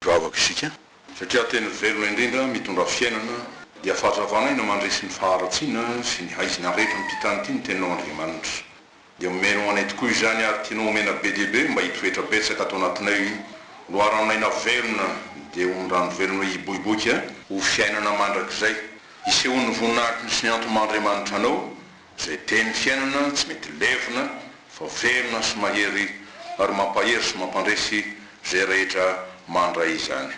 Vavaka isika, satria tena velona indrindra mitondra fiainana, dia fahazavana aina mandresy ny faharatsiana sy ny haizina rehetra ampitan'ny tia ny Teninao Andriamanitra. Dia omenao anay tokoa izany ary tianao omena be dia be mba hitoetra betsaka ato anatinay, loaranon'aina velona dia ho ny rano velona hiboiboika ho fiainana mandrakizay, hisehoan'ny voninahitry ny sy ny antomandriamanitranao Izay teny fiainana tsy mety levona fa velona sy mahery ary mampahery sy mampandresy izay rehetra mandray izany.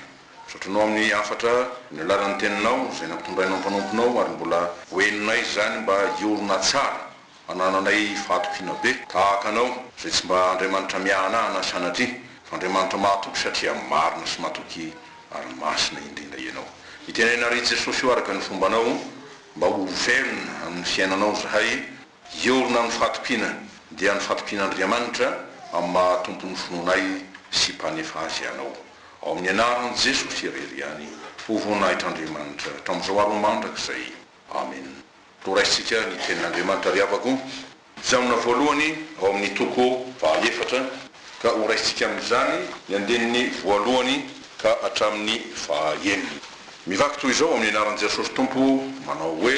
Zotronao amin'ny hafatra ny alalan'ny teninao izay nampitondrainao ny mpanomponao ary mbola ho henonay izany mba hiorina tsara hanananay fahatokiana be tahaka anao izay tsy mba Andriamanitra miahanahana sanatria fa Andriamanitra mahatoky satria marina sy matoky ary masina indrindra ianao. Itenena ry Jesosy o araka ny fombanao. Mba ho velona amin'ny fiainanao zahay, hiorina amin'ny fatompiana, dia ny fatompian'Andriamanitra amin'ny maha Tompon'ny finoanay sy Mpanefa azy ianao. Ao amin'ny anaran'i Jesosy irery ihany, ho voninahitr'Andriamanitra hatramin'izao ary ho mandrakizay. Amena. Horaisintsika ny tenin'Andriamanitra ry havako. Jaona voalohany ao amin'ny toko faha efatra, ka ho raisintsika amin'izany ny andininy voalohany ka hatramin'ny faha enina. Mivaky toy izao amin'ny anaran'i Jesosy Tompo manao hoe.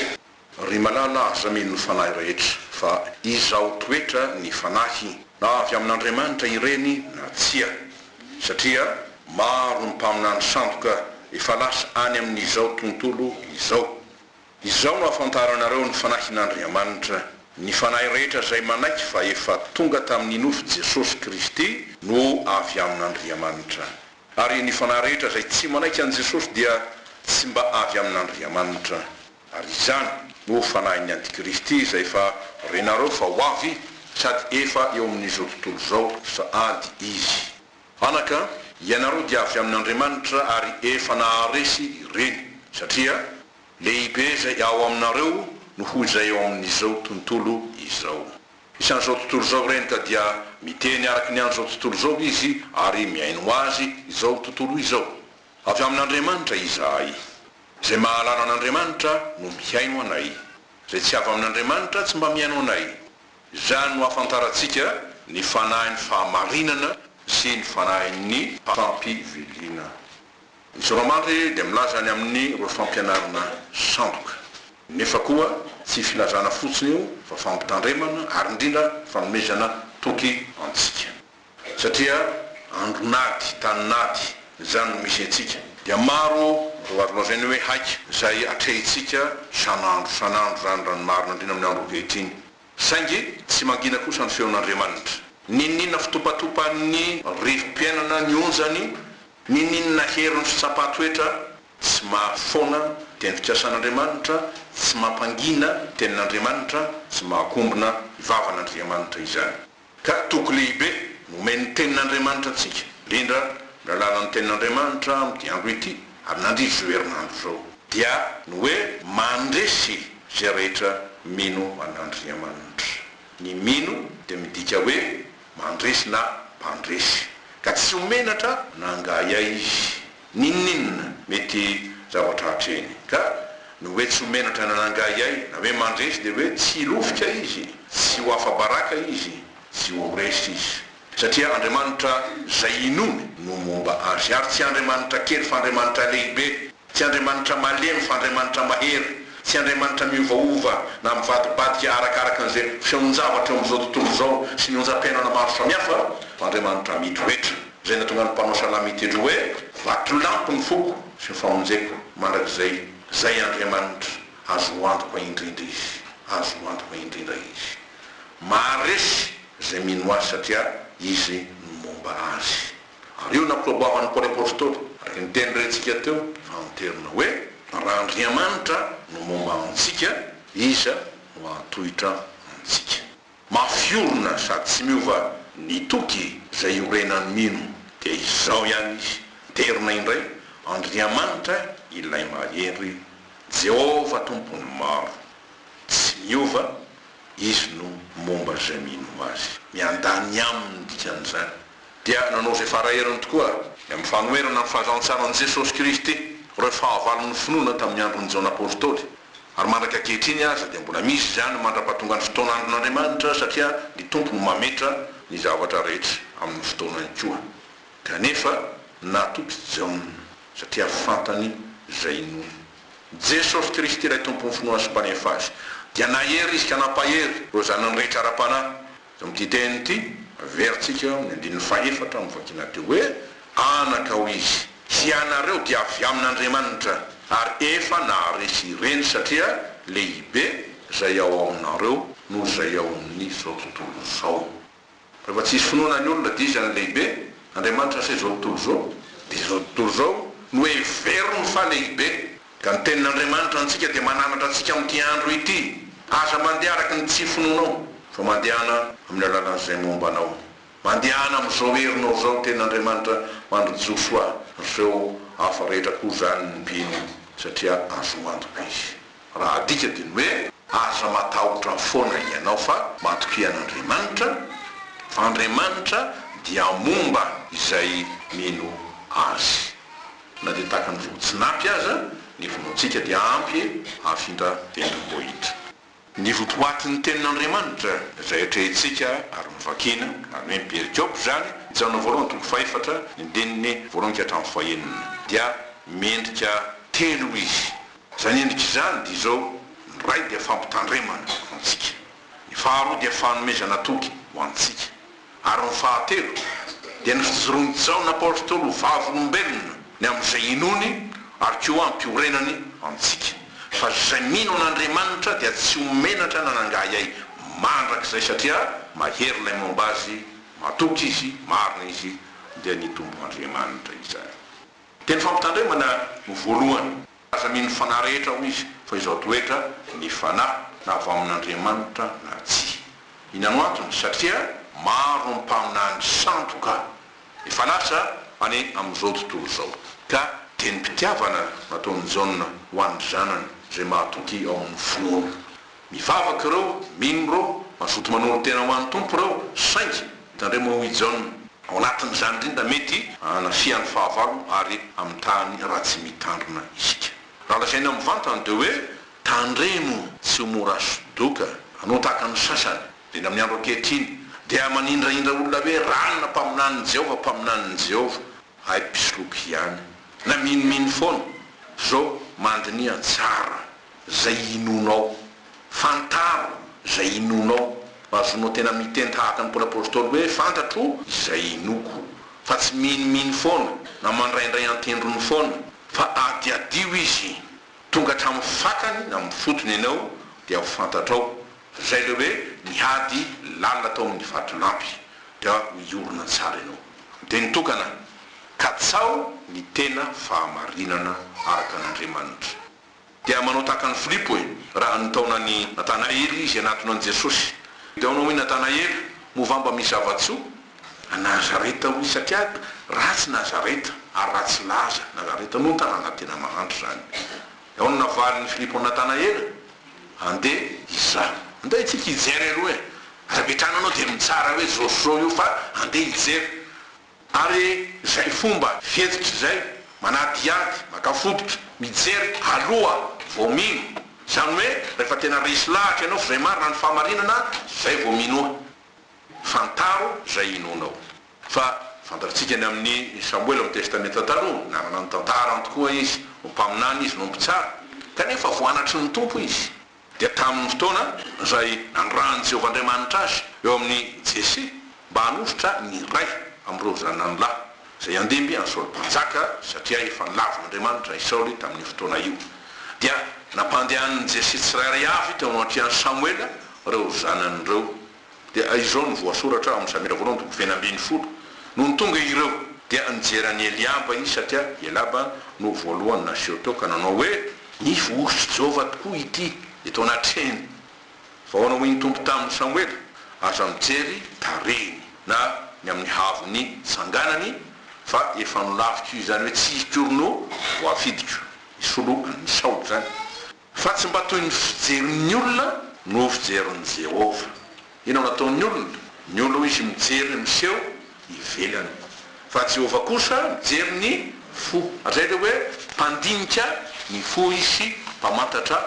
Ry malala aza mino ny fanahy rehetra, fa izaho toetra ny fanahy, na avy amin'Andriamanitra ireny na tsia, satria maro ny mpaminany sandoka efa lasa any amin'izao tontolo izao. Izao no ahafantaranareo ny Fanahin'Andriamanitra, Ny fanahy rehetra izay manaiky fa efa tonga tamin'ny nofo Jesosy Kristy no avy amin'Andriamanitra. Ary ny fanahy rehetra izay tsy manaiky an'i Jesosy dia tsy mba avy amin'Andriamanitra. Ary izany no fanahin'ny Antikristy izay efa renareo fa ho avy sady efa eo amin'izao tontolo izao sahady izy. Anaka, ianareo dia avy amin'Andriamanitra ary efa naharesy ireny, satria. Lehibe izay ao aminareo noho izay ao amin'izao tontolo izao. Isan'izao tontolo izao ireny ka dia miteny araka ny an'izao tontolo izao izy ary mihaino azy izao tontolo izao. Avy amin'Andriamanitra izahay. Izay mahalala an'Andriamanitra no mihaino anay. Izay tsy avy amin'Andriamanitra tsy mba mihaino anay. Izany no ahafantarantsika ny fanahin'ny fahamarinana sy ny fanahin'ny fampivelina. Ny Zava-manitra irery dia milaza ny amin'ireo fampianarana sandoka. Nefa koa tsy filazana fotsiny io fa fampitandremana ary indrindra fanomezana toky antsika. Satria andron'ady, tanin'ady, izany no misy antsika. Dia maro ireo azo lazaina hoe haika izay atrehintsika isan'andro isan'andro izany raha ny marina indrindra amin'ny andro ankehitriny. Saingy tsy mangina kosa ny feon'Andriamanitra. Ninoninona fitopatopan'ny rivo-piainana ny onjany, ninoninona herin'ny fitsapan-toetra tsy maha foana teny fikasan'Andriamanitra, tsy mampangina tenin'Andriamanitra, tsy mahakombona ny vavan'Andriamanitra izany. Ka toky lehibe nomen'ny Tenin'Andriamanitra antsika, indrindra amin'ny alalan'ny Tenin'Andriamanitra amin'ity andro ity, ary nandritra izao herinandro izao, dia ny hoe mandresy izay rehetra mino an'Andriamanitra. Ny mino dia midika hoe mandresy na mpandresy. Ka tsy ho menatra na angaha aia izy. N'inon'inona mety zavatra hatreny. Ka ny hoe tsy ho menatra na nangahiay, na hoe mandresy dia hoe tsy hilovika izy, tsy ho afa-baraka izy, tsy ho resy izy. Satria Andriamanitra izay inoany no momba azy. Ary tsy Andriamanitra kely fa Andriamanitra lehibe, tsy Andriamanitra malemy fa Andriamanitra mahery, tsy Andriamanitra miovaova na mivadibadika arakaraka an'izay fihaonjavatra eo amin'izao tontolo izao sy ny onjam-piainana maro samihafa fa Andriamanitra mitoetra. Izay nahatonga ny mpanao salamo hiteny hoe, Vatolampy ny foko sy ny famonjeko, mandrakizay, Izay Andriamanitra, azo antoka indrindra Izy, azo antoka indrindra Izy. Maharesy izay mino Azy satria Izy no momba Azy. Ary io no nampiloaboavan'i Paoly Apostoly, araka ny teny rentsika teo, fa anterina hoe, Raha Andriamanitra no momba antsika, iza no hahatohitra antsika? Mafy orina sady tsy miova ny toky. Izay iorenan'ny mino dia izao ihany izy, Terina indray Andriamanitra ilay mahery, Jehovah Tompon'ny maro. Tsy miova, Izy no momba izay mino Azy. Ny handany aminy no dikan'izany. Dia nanao izay fara heriny tokoa ary. Ny amin'ny fanoherana ny fahazantsaran'i Jesosy Kristy, ireo fahavalon'ny finoana tamin'ny andron'ny Jaona Apostoly. Ary mandraka ankehitriny aza dia mbola misy izany mandra-pahatongan'ny fotoan'andron'Andriamanitra satria ny Tompo no mametra ny zavatra rehetra amin'ny fotoanany koa. Kanefa natoky Jaona satria fantany izay inoany. Jesosy Kristy ilay Tompon'ny finoana sy Mpanefa azy dia nahery izy ka nampahery ireo zanany rehetra ara-panahy. Amin'ity teny ity, averintsika amin'ny andininy fahefatra amin'ny vakina teo hoe, Anaka hoy izy. Hianareo dia avy amin'Andriamanitra, ary efa naharesy ireny, satria lehibe izay ao aminareo noho izay ao amin'izao tontolo izao. Rehefa tsy hisy finoana ny olona, dia iza no lehibe, Andriamanitra sa izao tontolo izao? Dia izao tontolo izao no heveriny fa lehibe. Ka ny tenin'Andriamanitra antsika dia mananatra antsika amin'ity andro ity, Aza mandeha araka ny tsy finoanao, fa mandehana amin'ny alalan'izay momba anao. Mandehana amin'izao herinao izao ny tenin'Andriamanitra mandry Josoa ireo hafa rehetra koa izany ny mpino, satria azo antoka izy. Raha adika dia ny hoe, aza matahotra foana ianao fa matokia an'Andriamanitra, fa Andriamanitra dia momba izay mino Azy. Na dia tahaka ny vovo tsy nampy aza ny vonoantsika dia ampy e hafindra tendrombohitra. Ny votoatin' ny tenin' Andriamanitra izay atrehintsika ary novakiana, izany hoe ny perikôpy izany, Jaona voalohany toko fahefatra, ny andininy voalohany ka hatramin'ny fahenina, dia miendrika telo izy. Izany endrika izany dia izao, ny iray dia fampitandremana ho antsika, ny faharoa dia fanomezana toky ho antsika, Ary ny fahatelo dia ny fijoroan'i Jaona Apostoly ho vavolombelona ny amin'izay inoany ary koa hampiorenany antsika, fa izay mino an'Andriamanitra dia tsy ho menatra na nangahiahy mandrakizay satria mahery ilay momba azy, matoky izy, marina izy, dia ny tompon'Andriamanitra izany. Dia ny fampitandremana no voalohany. Aza mino ny fanahy rehetra hoy izy, fa izao toetra ny fanahy na avy amin'Andriamanitra na tsia. Inano antony? Satria maro ny mpaminany sandoka efa lasa any amin'izao tontolo izao, ka dia ny mpitiavana nataon'i Jaona ho an'ny zanany izay mahatoky ao amin'ny finoana. Mivavaka ireo, mino ireo, mazoto manolo tena ho an'ny Tompo ireo, saingy, tandremo hoy i Jaona, ao anatin'izany indrindra mety hanafihan'ny fahavalo ary amin'ny tany ratsy mitandrina isika. Raha lazaina mivantana dia hoe, tandremo tsy ho mora sodoka, hanao tahaka ny sasany, indrindra amin'ny andro ankehitriny, dia manindrahindra olona hoe ranona mpaminanin'i Jehovah, mpaminanin'i Jehovah, hay mpisoloky ihany, na minomino foana, fa izao mandiniha tsara izay inoanao. Fantaro izay inoanao. Azonao tena miteny tahaka ny Paoly Apostoly hoe, Fantatro izay inoako. Fa tsy minomino foana, na mandraindray an-tendrony foana, fa adiadio izy tonga hatramin'ny fakany na amin'ny fotony ianao, dia ho fantatrao. Izay ilay hoe, ny hady lalina tao amin'ny vatolampy. Dia miorina tsara ianao. Dia ny tokana, katsaho ny tena fahamarinana araka an'Andriamanitra. Dia manao tahaka an'i Filipo e! Raha nitaona an'i Natanaela izy hanatona an'i Jesosy, dia hono hoy Natanaela, Movamba misy zava-tsoa any Nazareta hoy, satria ratsy Nazareta ary ratsy laza Nazareta, no tanàna tena mahantra izany. Dia hono navalin'i Filipo an'i Natanaela, Andeha izaho. Andeha isika hijery aloha e! Aza mipetraha any ianao dia mitsara hoe izao sy izao io fa andeha hijery. Ary izay fomba fihetsika izay, manadihady, maka fototra, mijery aloha vao mino, izany hoe rehefa tena resy lahatra ianao vraiment raha ny fahamarinana izay vao minoa. Fantaro izay inoanao. Fa fantatsika ny amin'ny Samoela amin'ny Testamenta Taloha, nanana ny tantarany tokoa izy, ho mpaminany izy, no mpitsara, kanefa voanatry ny Tompo izy. dia tamin'ny fotoana izay nanirahan'i Jehovah Andriamanitra azy eo amin'i Jese mba hanolotra ny iray amin'ireo zanany lahy izay handimby an'i Saoly Mpanjaka, satria efa nilavina Andriamanitra i Saoly tamin'io fotoana io, dia nampandehanin'i Jese tsirairay avy teo anatrehan'i Samoela ireo zanany ireo. Dia izao no voasoratra ao amin'ny Samira voalohany toko feno ambin'ny folo, Nony tonga ireo, dia nijery an'i Eliaba izy, satria i Eliaba no voalohany naseho teo, ka nanao hoe. Ny vohosotr'i Jehovah tokoa ity eto anatrehany. Fa ahoana hoy ny Tompo tamin'i Samoela, Aza mijery tarehiny, na ny amin'ny haavon'ny tsanganany, fa efa nolaviko izany hoe tsy hikory no voafidiko. Hisolo an'i Saoly izany. Fa tsy mba toy ny fijerin'ny olona no fijerin'i Jehovah. Inona no ataon'ny olona? Ny olona hoy izy mijery ny miseho ivelany. Fa Jehovah kosa mijery ny fo. Hatrizay dia hoe mpandinika ny fo izy sy mpamantatra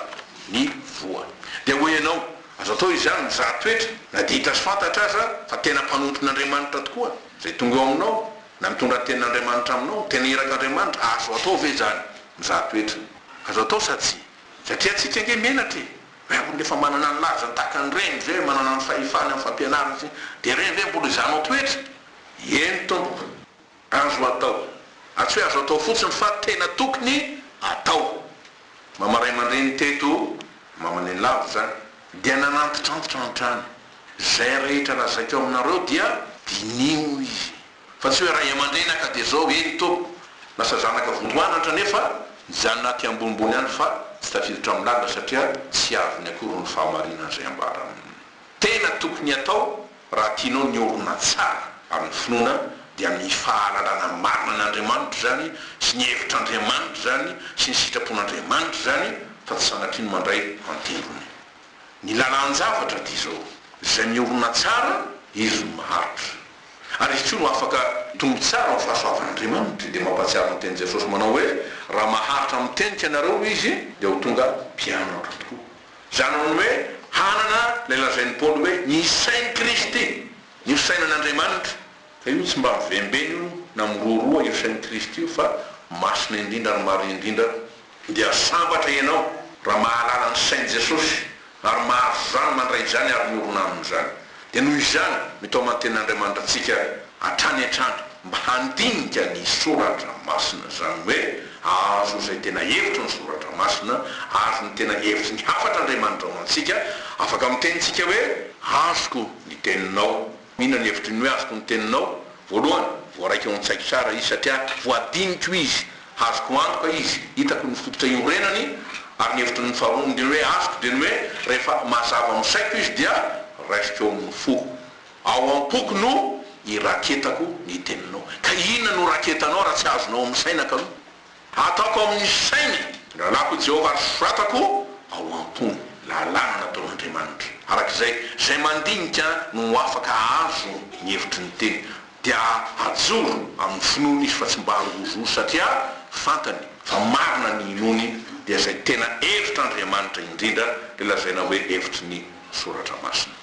ny voa. Dia hoy ianao, Azo atao izany mizaha toetra, na dia hita sy fantatra aza fa tena mpanompon'Andriamanitra tokoa izay tonga eo aminao? Na mitondra ny Tenin'Andriamanitra aminao? Tena iraka Andriamanitra? Azo atao ve izany? Mizaha toetra. Azo atao sa tsia? Satria antsika ange menatra e! Hoe ary rehefa manana ny lajany tahaka ny reny izay, manana ny fahefany amin'ny fampianarana sy ny, dia ireny ve mbola hizahanao toetra? Eny tompoko. Azo atao. Ary tsy hoe azo atao fotsiny fa tena tokony atao. Mama ray aman-dreny teto Mamanenlavitra dia nanantitrantitra hatrany. Izay rehetra lazaiko aminareo dia diniho izy. Fa tsy hoe ray aman-dreny aho ka dia izao, eny tompoko, lasa zanaka votoanatra nefa mijanona aty ambonimbony any fa tsy tafiditra amin'ny lalina satria tsy azony akory ny fahamarinan'izay ambarany. Tena tokony atao Raha tianao ny olona tsara amin'ny finoana dia ny fahalalana marina an'Andriamanitra izany sy ny hevitr'Andriamanitra izany sy ny sitrapon'Andriamanitra izany fa tsy sanatria ny mandray an-tendrony ny lalan-javatra dia izao, izay miorina tsara izy no maharitra ary izy koa no afaka mitombo tsara amin'ny fahasoavan'Andriamanitra dia mampahatsiaro ny tenin'i Jesosy manao hoe raha maharitra mitenika ianareo izy dia ho tonga mpianatra tokoa. Izany amin'ny hoe hanana ilay lazain'i Paoly hoe ny sain'i Kristy, ny ho sainan'Andriamanitra. Ka io tsy mba mivembena io na miroroa io sain'i Kristy io fa masina indrindra ary marina indrindra. Dia sambatra ianao raha mahalala ny sain'i Jesosy ary mahazo izany mandray izany ary miorina amin'izany. Dia noho izany, mitaoman-tena Andriamanitra antsika hatrany hatrany mba handinika ny Soratra Masina, izany hoe hahazo izay tena hevitry ny Soratra Masina, hahazo ny tena hevitry ny hafatra Andriamanitra ho antsika. Afaka miteny isika hoe, Azoko ny Teninao. Inona ny hevitry ny hoe azoko ny Teninao? Voalohany, voaraiko ao an-tsaiko tsara Izy, satria voadiniko Izy. Azoko antoka izy, hitako ny fototra iorenany, ary ny hevitry ny faharoa indrindra hoe azoko dia ny hoe rehefa mazava amin'ny saiko izy dia raisiko eo amin'ny foko. Ao am-poko no iraketako ny teninao. Ka inona no raketanao raha tsy azonao amin'ny saina ka no ataoko amin'ny sainy? Lalako i Jehovah ary soratako ao am-po ny lalàna nataon'Andriamanitra. Araka izay, izay mandinika no afaka hahazo ny hevitry ny teny. dia hajoro amin'ny finoany izy fa tsy mba hangororo satria fantany fa marina ny inoany dia izay tena hevitr'Andriamanitra indrindra ilay lazaina hoe hevitry ny soratra masina.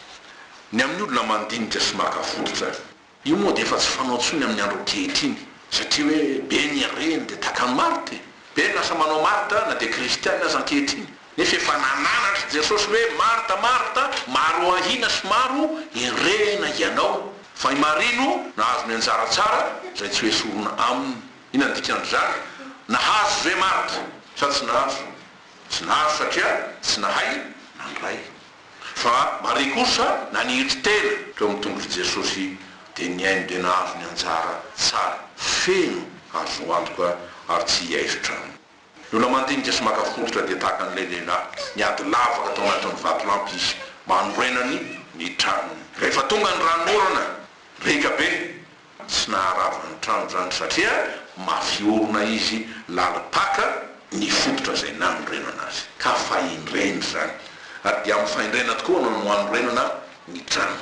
Ny amin'ny olona mandinika sy maka fototra. Io moa dia efa tsy fanao intsony amin'ny andro ankehitriny satria hoe be ny reny dia takany marty, be ny lasa manao marty na dia kristiana aza ankehitriny. Nefa efa nananatr'i Jesosy hoe, Marta, Marta, maro ahiana sy maro enrehina hianao, fa i Maria no nahazo ny anjara tsara izay tsy hoesorina aminy. Inona no dikan'izany? Nahazo ve Marta? Sa tsy nahazo? Tsy nahazo satria tsy nahay nandray. Fa Maria kosa naniry tena teo amin'ny tongon'i Jesosy dia nihaino dia nahazo ny anjara tsara feno azo antoka ary tsy hiaisotra aminy. Ny olona mandinika sy maka fototra dia tahaka an'ilay lehilahy niady lavaka tao anatin'ny vatolampy izy mba hanorenany ny tranony. Rehefa tonga ny ranonorana, riaka be, tsy naharava ny trano izany satria mafy orona izy, lalim-paka ny fototra izay nanorenana azy. Ka fahendrena izany, ary dia amin'ny fahendrena tokoa no hanorenana ny trano.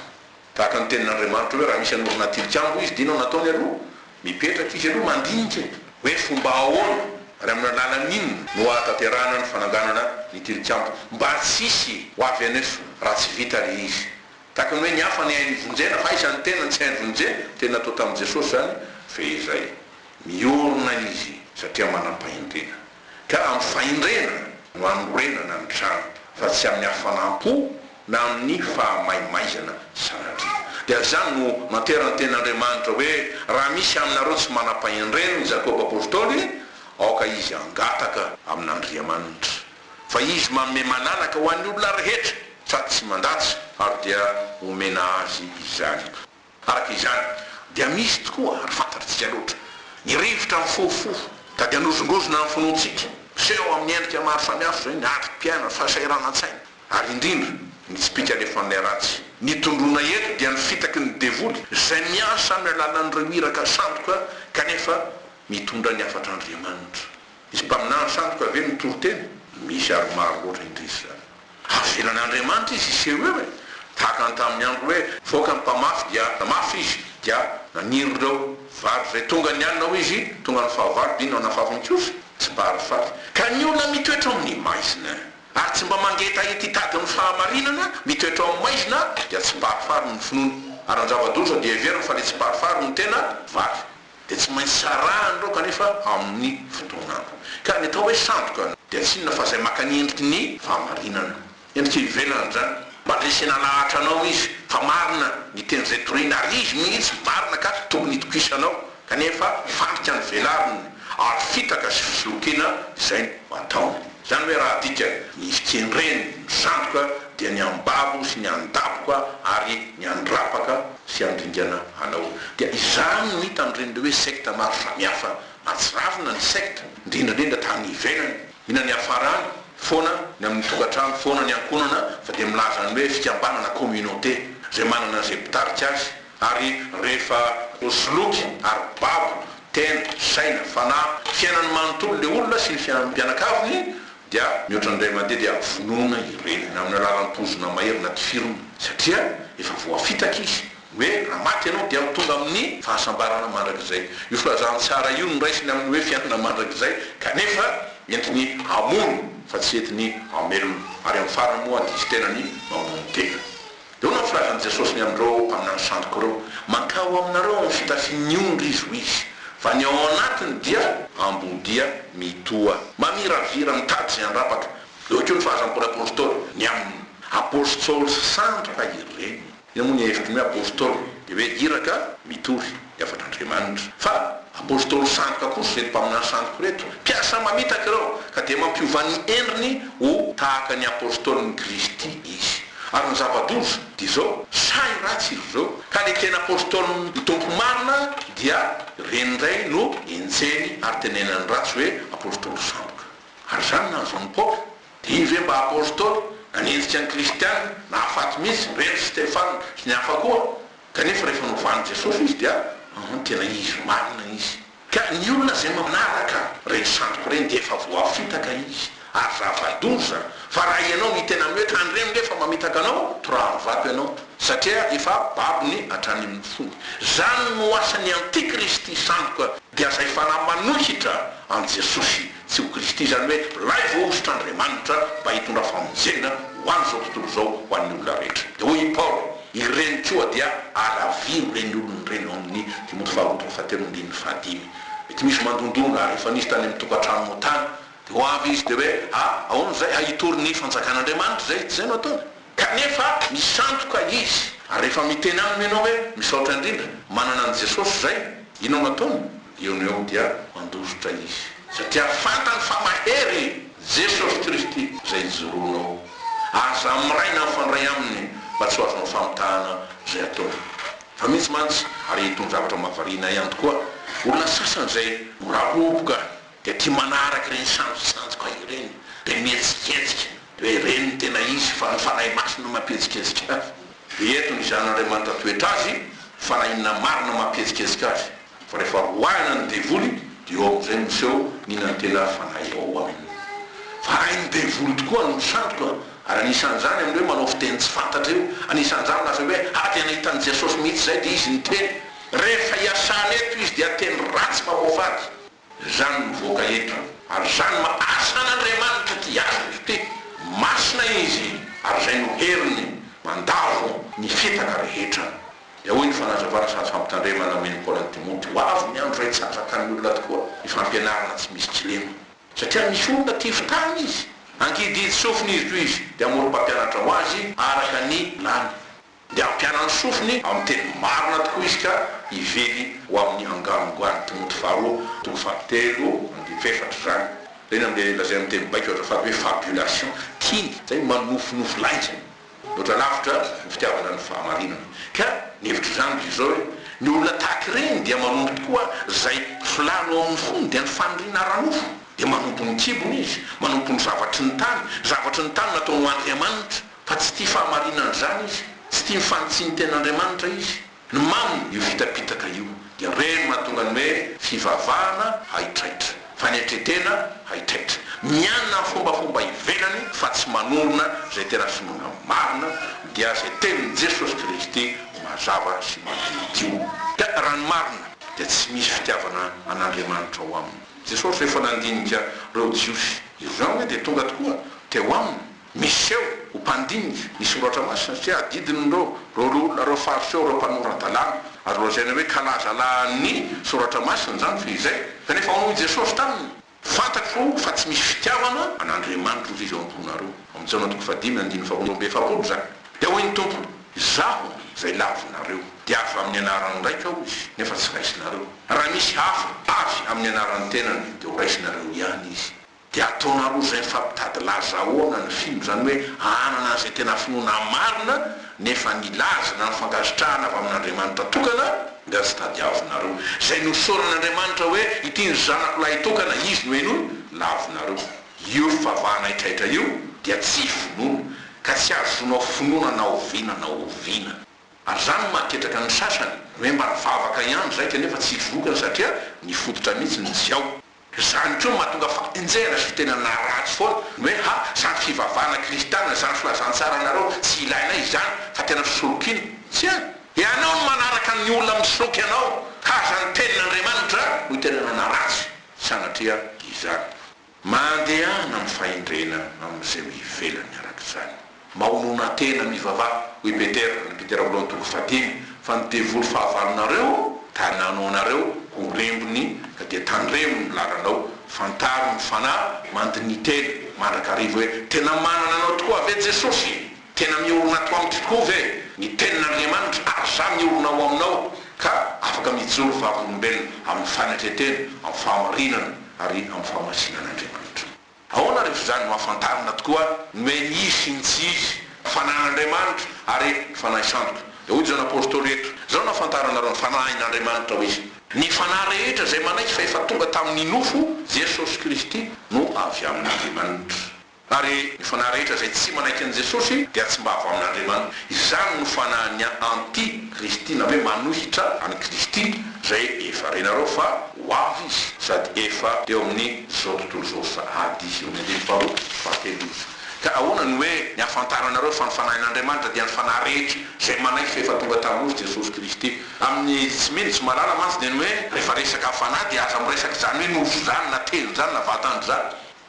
Tahaka ny tenin'Andriamanitra hoe raha misy hanorina tilikambo izy dia inona no ataony aloha? Mipetraka izy aloha mandinika e! Hoe fomba ahoana ary amin'ny alalan'inona no ahatanterahana ny fananganana ny tilikambo mba tsy hisy ho avy aneso raha tsy vita ilay izy? Tahaka ny hoe ny hafa ny hainy ivonjena fa aiza ny tenany tsy hainy vonjena? Tena atao tamin'i Jesosy izany fehizay. Miorina izy satria manam-pahindrina. ka amin'ny fahendrena no hanorenana ny trano fa tsy amin'ny hafanam-po na amin'ny fahamaimaizana sanatria. Dia izany no nanterany teny Andriamanitra hoe, Raha misy aminareo tsy manam-pahendrena, i Jakoba apostoly, aoka izy hangataka amin'Andriamanitra, fa Izy manome mananaka ho an'ny olona rehetra, sady tsy mandatsy, ary dia homena azy izany. Araka izany, dia misy tokoa, ary fantatritsika loatra, ny rivotra mifohofofo, ka dia anozongozona ny finoantsika. Miseho amin'ny endrika maro samihafa izay ny adrom-piainana, fahasahiranan-tsaina, ary indrindra, ny tsipika alefan'ilay ratsy. Ny tondroina eto dia ny fitaky ny devoly, izay miasa amin'ny alalan'ireo iraka sandoka, kanefa mitondra ny hafatr'Andriamanitra. Misy mpaminany sandoka ve mitory tena? Misy ary maro loatra indrisy izany. Avelan' Andriamanitra izy hiseho eo e! Tahaka ny tamin'ny andro hoe nivoaka ny mpamafy dia namafy izy, dia naniry ireo vary izay tonga ny alina hoy izy, tonga ny fahavalo dia nanafafy ny kiosy, tsy mba ary faty. Ka ny olona mitoetra ao amin'ny maizina ary tsy mba mangetaheta hitady ny fahamarinana, mitoetra ao amin'ny maizina dia tsy mba ary fary ny finoany, ary ny zava-doza dia heveriny fa ilay tsy mba ary fary no tena vary. dia tsy maintsy sarahany ireo kanefa amin'ny fotoan'andro. Ka ny atao hoe sandoka dia tsy inona fa izay maka ny endriky ny fahamarinana. Endrika ivelany izany. Mandresena lahatra anao izy fa marina ny teny izay toriny ary izy mihitsy marina ka tokony hitokisanao kanefa fandrika ny velariny ary fitaka sy fisolokiana izay no ataony. Izany hoe raha adikany ny fikendreny ny sandoka dia ny anbabo sy ny andaboka ary ny andrapaka. sy handringana anao. Dia izany no hita amin'ireny hoe sekta maro samihafa atsiravina ny sekta, indrindra indrindra tany ivelany. Mila ny hiafarany foana ny amin'ny tokantrano foana ny ankohonana fa dia milaza ny hoe fikambanana, communauté, izay manana izay mpitarika azy ary rehefa voasoloky ary babo, tena, saina, fanahy, fiainany manontolo ilay olona sy ny fianakaviny dia mihoatra ny ray aman-dre dia vonoina i reniny amin'ny alalan'ny pozina mahery na tifirina satria efa voafitaka izy hoe raha maty ianao dia ho tonga amin'ny fahasambarana mandrakizay. Io filazantsara io no raisiny amin'ny hoe fiainana mandrakizay kanefa entiny hamono fa tsy entiny hamelona ary amin'ny farany moa diso tena ny mamono tena. Eo no filaza an'i Jesosy ny amin'ireo mpaminany sandoko ireo, Mankao aminareo amin'ny fitafian'ny ondry izy, hoy izy, fa ny ao anatiny dia. Ambodia mitoa. Mamiravira, mitady izay handrapaka. Eo koa ny fahazam-pon'ny Apôstôly ny aminy. Apôstôly sy sandra ireny. Inona moa ny hevitry ny hoe Apôstôly? Dia hoe iraka mitory. ny havan'Andriamanitra. Fa Apostoly sandoka kosa ireto mpaminany sandoka ireto, mpiasa mamitaka ireo, ka dia mampiova ny endriny ho tahaka ny Apostolin'i Kristy izy. Ary ny zava-doza dia izao, sahy ratsy izy ireo, ka ilay tena Apostolin'ny Tompo marina dia ireny indray no enjehiny ary tenenany ratsy hoe Apostoly sandoka. Ary izany nahazo an'i Paoly? Dia iny ve mba Apostoly nanenjika ny Kristiana, nahafaty mihitsy, ireny ry Stefana sy ny hafa koa? Kanefa rehefa novalin'i Jesosy izy dia mamono tena izy marina izy. Ka ny olona izay manaraka ireny sandoka ireny dia efa voafitaka izy ary zava-doza, fa raha ianao ny tena mety handre minge fa mamitaka anao, toraha amin'ny vato ianao, satria efa babony hatrany amin'ny fony. Izany no asan'ny antikristy sandoka dia izay fanahy manohitra an'i Jesosy. Tsy ho Kristy izany hoe lay voahosotr'Andriamanitra mba hitondra famonjena ho an'izao tontolo izao ho an'ny olona rehetra. Dia hoy i Paoly, Ireny koa dia alaviro ireny olona ireny ao amin'ny Timoty faharoa toko fahatelo andininy fahadimy. Mety misy mandondona ary efa nisy tany amin'ny tokantranonao tany. Dia ho avy izy dia hoe, Ah, ahoana izay? Ah, hitory ny fanjakan'Andriamanitra izay? Dia izay no ataony. Kanefa misandoka izy. Ary rehefa miteny aminy ianao hoe, Misaotra indrindra, manana an'i Jesosy izay, inona no ataony? Eo no eo dia mandositra izy, satria fantany fa mahery i Jesosy Kristy izay ijoroanao. Aza miray na mifandray aminy mba tsy ho azonao famitahana izay ataony. Fa mihitsy mantsy, ary itony zavatra mahavariana ihany tokoa, olona sasany izay miraboboka. dia tia manaraka ireny sanjosanjoka ireny, dia mihetsiketsika, dia ireny no tena izy, fa ny Fanahy Masina no mampihetsiketsika azy. Dia eto ny Zanan'Andriamanitra toetra azy, fa na inona marina no mampihetsiketsika azy, fa rehefa roahina ny devoly, dia eo amin'izay no miseho ny inan'tena ary Fanahy ao aminy. Fa hain'ny devoly tokoa ny ho sandoka, ary anisan'izany amin'ny hoe manao fiteny tsy fantatra io, anisan'izany lasa hoe ah dia nahitan'i Jesosy mihitsy izay, dia izy niteny. Rehefa iasana eto izy dia teny ratsy mamoafady. Izany mivoaka hentrana, ary izany mahatsy an'Andriamanitra ty Azy Kristy ty, masina Izy, ary izay no heriny mandavo ny fitaka rehetra. Dia hoy ny fanazavana sady fampitandremana nomen'i Paoly an'i Timoty, Ho avy ny andro izay tsy hahatrakan'ny olona tokoa ny fampianarana tsy misy kilema. Satria misy olona tia fitahana izy, ankididy sofina izy toy izy, dia hamorom-pampianatra ho azy araka ny lany. Dia hampiana ny sofiny amin'ny teny marina tokoa izy ka hively ho amin'ny hanganongoan'i Timoty faharoa, toko fahatelo andiniko efatra izany. Ireny amin'ilay lazaina amin'ny teny baiko azafady hoe fabulation, tiany izay manofinofy lainga. Mihoatra lavitra ny fitiavana ny fahamarinana. Ka ny hevitro izany dia izao hoe, ny olona tahaka ireny dia manompo tokoa izay filàny ao amin'ny fony, dia ny faniriana ara-nofo. Dia manompo ny kibony izy, manompo ny zavatry ny tany, zavatry ny tany nataony ho andriamanitra. Fa tsy tia fahamarinan-dRany izy, tsy tia ny fanitsian'ny Tenin'Andriamanitra izy. Ny maminy, io fitapitaka io, dia ireny mahatonga ny hoe fivavahana haitraitra, fanetren-tena haitraitra, mianina amin'ny fombafomba ivelany fa tsy manorina izay tena finoana marina, dia izay tenin'i Jesosy Kristy mazava sy madiodio. Ka raha ny marina, dia tsy misy fitiavana an'Andriamanitra ao aminy. Jesosy rehefa nandinika ireo Jiosy, izany hoe dia tonga tokoa teo aminy. Miseho ho mpandinika ny Soratra Masina satria adidin'ireo roaroa ireo faritra ireo ireo mpanora-dalàna, azo lazaina hoe kalazalahan'ny Soratra Masina izany fa izay. Kanefa hono hoy i Jesosy taminy, Fantatro fa tsy misy fitiavana an'Andriamanitra ozy izy ao am-ponareo. Ao amin'ny Jaona toko fahadimy andininy faharoa amby efapolo izany. Dia hoy ny Tompo, Izaho izay lavinareo. Dia avy amin'ny anarany raika aho izy, nefa tsy raisinareo. Raha misy hafa avy amin'ny anaran'ny tenany, dia horaisinareo ihany izy. Dia ataonareo izay fa mitady laza ahoana ny film izany hoe hanana an'izay tena finoana marina nefa ny laza na ny fankasitrahana avy amin'Andriamanitra tokana nga tsy tadiavinareo. Izay nosaoran'Andriamanitra hoe ity ny zanako lahy tokana izy no henoiny lavinareo. Io fivavahana haitraitra io dia tsy finoana ka tsy ahazoanao finoana na oviana na oviana. Ary izany no mahaketraka ny sasany, hoe mba nivavaka ihany izay kanefa tsy vokany satria ny fototra mihitsy no tsy ao. Izany koa no mahatonga fa enjehina sy tena naratsy foana ny hoe ha samy fivavahana kristiana izany filazantsaranareo tsy ilainay izany fa tena fisolokiana. Tsia! Ianao no manaraka ny olona misoloky anao ka aza ny tenin'Andriamanitra no tena nanaratsy sanatria izany. Mandehana amin'ny fahendrena amin'izay eo ivelany araka izany. Mahonona tena mivavaha, hoy Petera, Andry Petera Voalohany toko fahadimy, fa ny devoly fahavalonareo ka nanao anareo ho rembiny ka dia tandremo ny lalanao, fantaro ny fanahy mandiniteny mandrakariva hoe, tena manana anao tokoa ve Jesosy? Tena miorina ato amiko tokoa ve ny tenin'Andriamanitra ary za miorina ao aminao ka afaka mijoro vavolombelona amin'ny fanetretena, amin'ny fahamarinana ary amin'ny fahamasinan'Andriamanitra. Ahoana rehefa izany no ahafantarana tokoa ny hoe izy sy ny tsy izy, Fanahin'Andriamanitra ary Fanahy Sandoka? Dia hoy izany Apostoly eto, Izao no ahafantaranareo ny Fanahin'Andriamanitra, hoy izy, Ny Fanahy rehetra izay manaiky fa efa tonga tamin'ny nofo Jesosy Kristy no avy amin'Andriamanitra. Ary ny Fanahy rehetra izay tsy manaiky an'i Jesosy dia tsy mba avy amin'Andriamanitra. Izany no fanahin'ny anti Kristy, na hoe manohitra an'i Kristy, izay efa renareo fa ho avy izy sady efa eo amin'ny. Izao tontolo izao sahady eo amin'ny andininy faharoa sy fahatelony. Ka ahoana no hoe ny hahafantaranareo fa ny Fanahin'Andriamanitra dia ny Fanahy rehetra, izay manaiky fa efa tonga tamin'ny Nosy Jesosy Kristy. Amin'ny tsy mino, tsy mahalala mantsy dia ny hoe rehefa resaka Fanahy dia aza miresaka izany hoe Nosy izany na Teny izany na Vatana izany.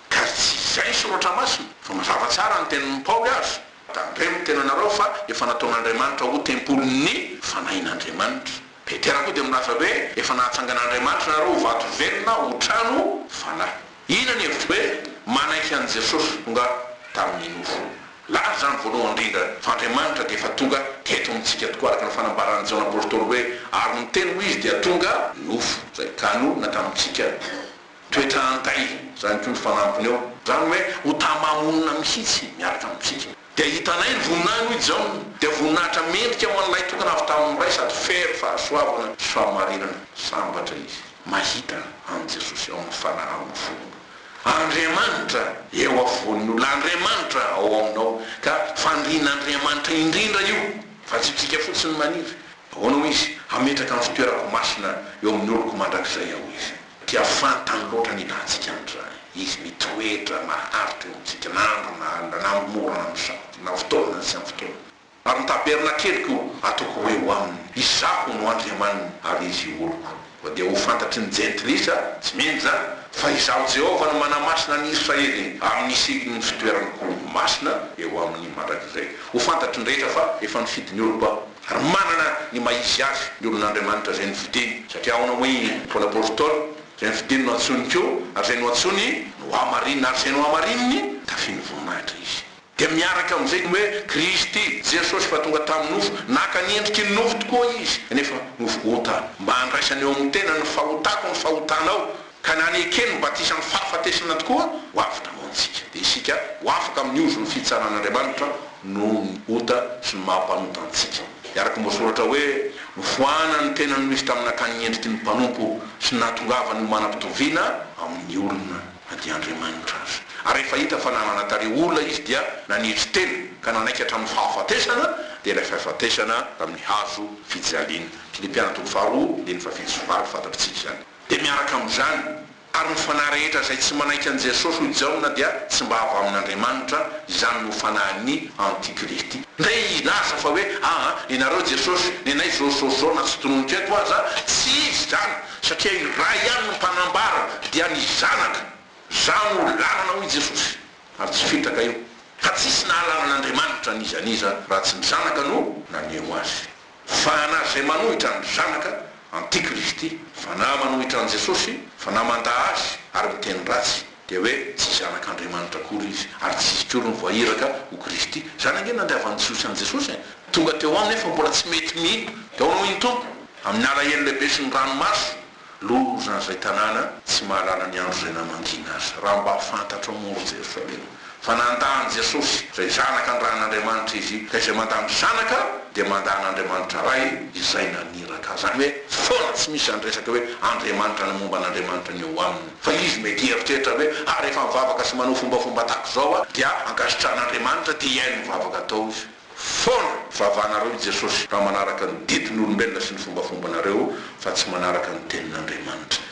Ka tsy izay ny Soratra Masina, fa mazava tsara ny tenin'i Paoly aza, Tandremo ny tenanareo fa efa nataon'Andriamanitra ho tempolin'ny Fanahin'Andriamanitra. Petera koa dia milaza hoe, Efa nahatsangan'Andriamanitra nareo ho vato velona, ho trano fanahy. Inona ny hevitro hoe manaiky an'i Jesosy tonga tamin'ny nofo? Laza izany voalohany indrindra fa Andriamanitra dia efa tonga teto amintsika tokoa araka ny fanambaran'i Jaona Apostoly hoe, Ary ny Teny hoy izy dia tonga nofo, izay kanonina tamintsika. Toetra antahy izany koa ny fanampiny eo, izany hoe ho tamamonina mihitsy miaraka amintsika. Dia hitanay ny voninahiny, hoy Jaona, dia voninahitra mendrika ho an'Ilay tokana avy tamin'ny Ray sady fery fahasoavana sy fahamarinana. Sambatra izy mahita an'i Jesosy ao amin'ny fanahaony fony. Andriamanitra eo afovoan'ny olona, Andriamanitra ao aminao, ka fandrian'Andriamanitra indrindra io, fa tsy isika fotsiny maniry. Ahoana hoy Izy, Hametraka ny fitoerako masina eo amin'ny oloko mandrakizay Aho, hoy Izy. Dia fantany loatra ny ilantsika an'izany. Izy mitoetra maharitra eo amintsika na andro na alina, na amin'ny mora na amin'ny sarotra, na fotoana na tsy amin'ny fotoana. Ary ny taberna keliko ataoko hoe ho aminy, Izaho no Andriamaniny ary izy io oloko. Fa dia ho fantatry ny Jentilisa, tsy mino izany, fa Izaho Jehovah no manamasina an'i Israely amin'ny sikin' ny fitoeraniko masina eo aminy mandrakizay. Ho fantatry ny rehetra fa efa nifidy ny oloko Aho. Ary manana ny maha izy azy ny olon'Andriamanitra izay no fidiny, satria ao no moin foana portol, izay no fidiny no antsoiny ko, ary izay no antsoiny no hamarinina, ary izay no hamarininy tafian'ny voninahitra izy. Dia miaraka amin'izay ny hoe Kristy, Jesosy fa tonga tamin'ny nofo, naka ny endriky ny nofo tokoa izy, nefa nofo onta, mba handraisany eo amin'ny tenany ny fahotako ny fahotanao, ka na ny eke no batisan'ny fahafatesana tokoa, ho avy namoantsika, dia isika ho afaka amin'ny ozon'ny fitsaran'Andriamanitra noho ny ota sy ny maha-mpanota antsika. Dia araka ny voasoratra hoe, Nofoanan'ny tenany no izy tamin'ny nakany ny endriky ny mpanompo sy ny nahatongavany ho manam-pitoviana amin'ny olona, na dia Andriamanitra aza. Ary rehefa hita fa nanana tarehy olona izy dia nanetry tena, ka nanaiky hatramin'ny fahafatesana, dia ilay fahafatesana tamin'ny hazo fijaliana. Filipiana toko faharoa, andininy fahafito sy faharoa, fantatr'tsika izany. dia miaraka amin'izany, ary ny fanahy rehetra izay tsy manaiky an'i Jesosy hoy Jaona dia tsy mba avy amin'Andriamanitra, izany no fanahin'ny antikristy. Ndray hilaza fa hoe aa ianareo Jesosy nenay izao izao izao na tsy tononiko eto aza, tsy izy izany, satria i Ray ihany no mpanambara, dia ny Zanaka, Zah no lalana hoy Jesosy, ary tsy fitaka io, ka tsisy nahalala an'Andriamanitra n'iza n'iza raha tsy ny Zanaka no naneho azy. Fanahy izay manohitra ny Zanaka, antikristy, fanahy manohitra an'i Jesosy, fanahy mandà Azy ary miteny ratsy, dia hoe tsy zanak'Andriamanitra akory izy, ary tsy izy akory no voairaka ho Kristy. Izany ange no nandiavan'ny Jiosy an'i Jesosy e! Tonga teo aminy aho fa mbola tsy mety mino, dia ahoana hoy ny Tompo? Amin'ny alahelo lehibe sy ny ranomaso. Lolo ry zaza tanàna tsy mahalala ny andro izay namangiana azy raha mba fantatrao moa ry Jerosalema fa nandà an'i Jesosy izay zanaka nirahan'Andriamanitra izy ka izay mandà ny zanaka dia mandà an'Andriamanitra Ray izay naniraka azy any hoe foana tsy misy zany resaka hoe Andriamanitra na momba an'Andriamanitra ny eo aminy fa izy mety hieritreritra hoe ah rehefa mivavaka sy manao fombafomba tahak'izao aho dia ankasitrahan'Andriamanitra te hihaino ny vavaka atao izy foana vavanareo i Jesosy raha manaraka ny didin'olombelona sy ny fombafombanareo fa tsy manaraka ny tenin'Andriamanitra.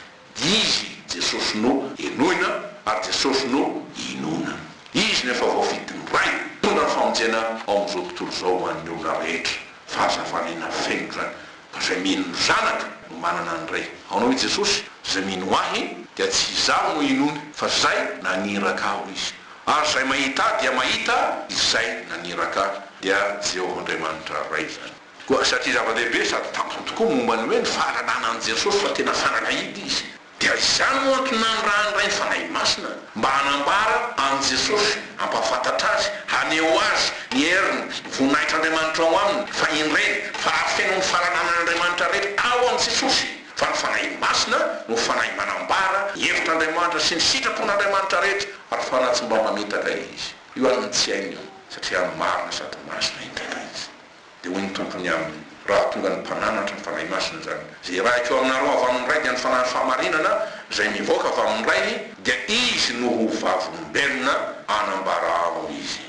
Izy, Jesosy, no henoina ary Jesosy no inoana. Izy no efa voafidin'ny Ray hitondra ny famonjena ao amin'izao tontolo izao ho an'ny olona rehetra. Fahazavana ina feno izany! Izay mino ny Zanaka no manana ny Ray. Ahoana hoy Jesosy? Izay mino Ahy, dia tsy Izaho no inoany, fa Izay naniraka Ahy, hoy Izy. Ary izay mahita Ahy dia mahita Izay naniraka Ahy. Dia Jehovah Andriamanitra Ray izany. Koa satria zava-dehibe sady tampoka tokoa momba ny hoe ny fahalalana an'i Jesosy fa tena fanalahidy izy, Dia izany no antony nanirahan'ny Ray ny Fanahy Masina, mba hanambara an'i Jesosy, hampahafantatra Azy, haneho Azy, ny heriny, ny voninahitr'Andriamanitra ao Aminy, fa indreny, fa hafeno ny fahalalànan'Andriamanitra rehetra ao amin'i Jesosy, fa ny Fanahy Masina no Fanahy manambara ny hevitr'Andriamanitra sy ny sitrapon'Andriamanitra rehetra, ary fa na tsy mba mamitaka Izy io an'ny tsy hainy io, satria marina sady masina indrindra Izy. Dia hoy ny Tompony aminy, Raha tonga ny mpananatry ny Fanahy Masina izany, izay irahiko eo aminareo avy amin'ny Ray dia ny Fanahin'ny fahamarinana izay mivoaka avy amin'ny Rainy, dia Izy no ho vavolombelona hanambara aminy Izy.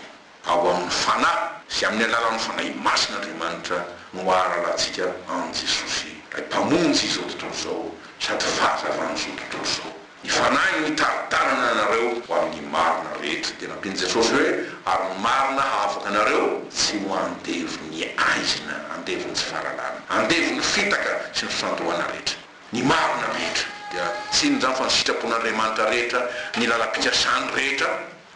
Ao amin'ny Fanahy sy amin'ny alalan'ny Fanahy Masina Andriamanitra no hahalalantsika an'i Jesosy, Ilay Mpamonjy izao tontolo izao sady Fahazavan'izao tontolo izao. Ny Fanahy no hitari-tanana anareo ho amin'ny marina rehetra. Dia nampian'i Jesosy hoe, Ary ny marina hahafaka anareo, tsy ho andevon'ny aizina, andevon'ny tsy fahalalana, andevon'ny fitaka sy ny fifantohana rehetra. Ny marina rehetra. Dia tsinona izany fa ny sitrapon'Andriamanitra rehetra, ny lalam-pikasany rehetra,